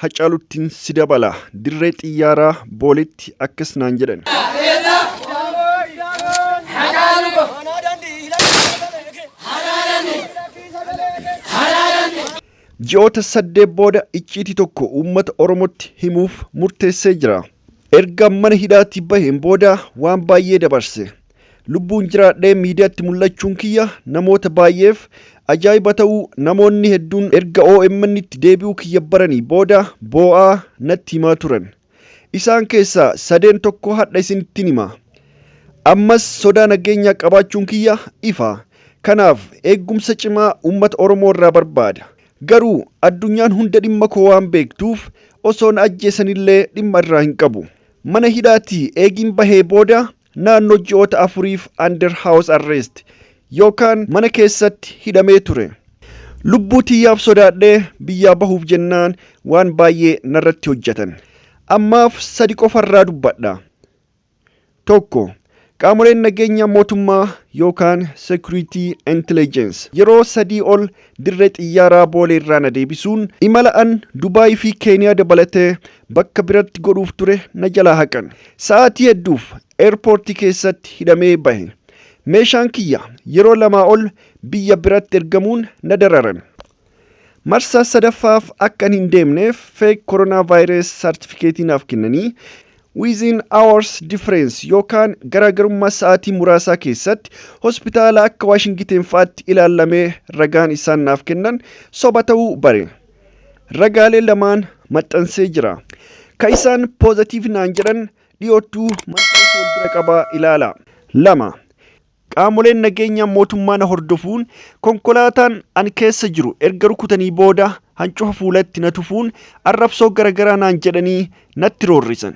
Hacaaluttin si dabala. Dirree xiyyaaraa Booletti akkas naan jedhan. Ji'oota saddeet booda icciitii tokko uummata Oromootti himuuf murteessee jira. Erga mana hidhaatii baheen booda waan baay'ee dabarse. Lubbuun jiraadhee miidiyaatti mul'achuun kiyya namoota baay'eef ajaa'iba ta'uu namoonni hedduun erga OMN'tti deebi'uu kiyya baranii booda boo'aa natti himaa turan. Isaan keessaa sadeen tokko hadha isinittin hima. Ammas sodaa nageenyaa qabaachuun kiyya ifa. Kanaaf eeggumsa cimaa uummata Oromoo irraa barbaada. Garuu addunyaan hunda dhimma koo waan beektuuf osoo na ajjeesanillee dhimma irraa hin qabu. Mana hidhaatii eegiin bahee booda naannoo ji'oota afuriif under house arrest yookaan mana keessatti hidhamee ture. Lubbuu tiyyaaf sodaadhee biyyaa bahuuf jennaan waan baay'ee narratti hojjatan. Ammaaf sadi qofarraa dubbadha. Tokko, Qaamoleen nageenyaa mootummaa yookaan security intelligence yeroo sadii ol dirree xiyyaaraa Booleerraa na deebisuun imala an Dubaayii fi Keeniyaa dabalatee Bakka biratti godhuuf ture na jalaa haqan. Sa'aatii hedduuf Airport keessatti hidhamee bahe. Meeshaan kiyya yeroo lamaa ol biyya biratti ergamuun na dararan. Marsaa sadaffaaf akkan hin deemneef fake coronavirus certificate naaf kennanii within hours difference yookaan garaagarummaa sa'aatii muraasaa keessatti hospitaala akka Waashingiten fa'aatti ilaallamee ragaan isaan naaf kennan soba ta'uu bare. ragaalee lamaan maxxansee jira. Ka isaan positive naan jedhan dhiyoottuu maxxansa wal bira qabaa ilaala. 2. Qaamoleen nageenyaa mootummaa na hordofuun konkolaataan an keessa jiru erga rukutanii booda hancufa fuulatti na tufuun arrabsoo garagaraa naan jedhanii natti roorrisan.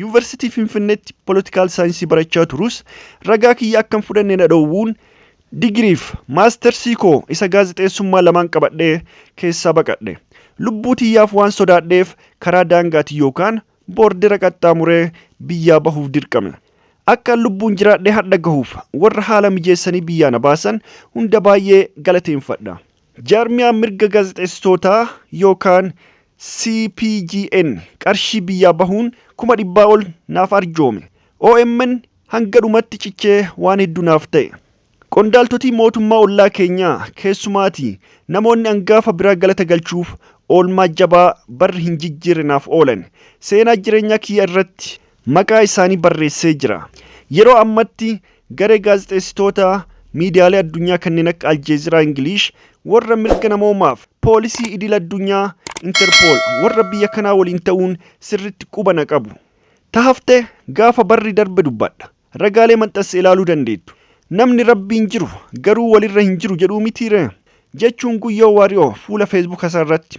Yuunvarsiitii Finfinneetti Political Saayinsii barachaa turuus ragaa kiyya akka hin fudhanne na dhoowwuun digiriif maastersii koo isa gaazexeessummaa lamaan qabadhee keessaa baqadhe. Lubbuu tiyyaaf waan sodaadheef karaa daangaatiin yookaan boordera qaxxaamuree biyyaa bahuuf dirqame. Akkan lubbuun jiraadhee hardha gahuuf warra haala mijeessanii biyyaa na baasan hunda baay'ee galateenfadha. Jaarmiyaan mirga gaazexeessitootaa yookaan CPJn qarshii biyyaa bahuun kuma dhibbaa ol naaf arjoome. Omn hanga dhumatti cichee waan hedduu naaf ta'e. Qondaaltotii mootummaa ollaa keenyaa keessumaati namoonni angaafa biraa galata galchuuf oolmaa jabaa barri hin jijjiirre naaf oolan. Seenaa jireenyaa kiyya irratti maqaa isaanii barreessee jira. Yeroo ammatti garee gaazexeessitoota miidiyaalee addunyaa kanneen akka Aljeeziraa Ingiliish, warra mirga namoomaaf, poolisii idil addunyaa, Interpol, warra biyya kanaa waliin ta'uun sirriitti quba na qabu. Ta hafte gaafa barri darbe dubbadha. Ragaalee maxxanse ilaaluu dandeettu. Namni Rabbiin jiru garuu walirra hin jiru jedhuu mitiiree? jechuun Guyyoo Waariyoo fuula Feesbuukasaarratti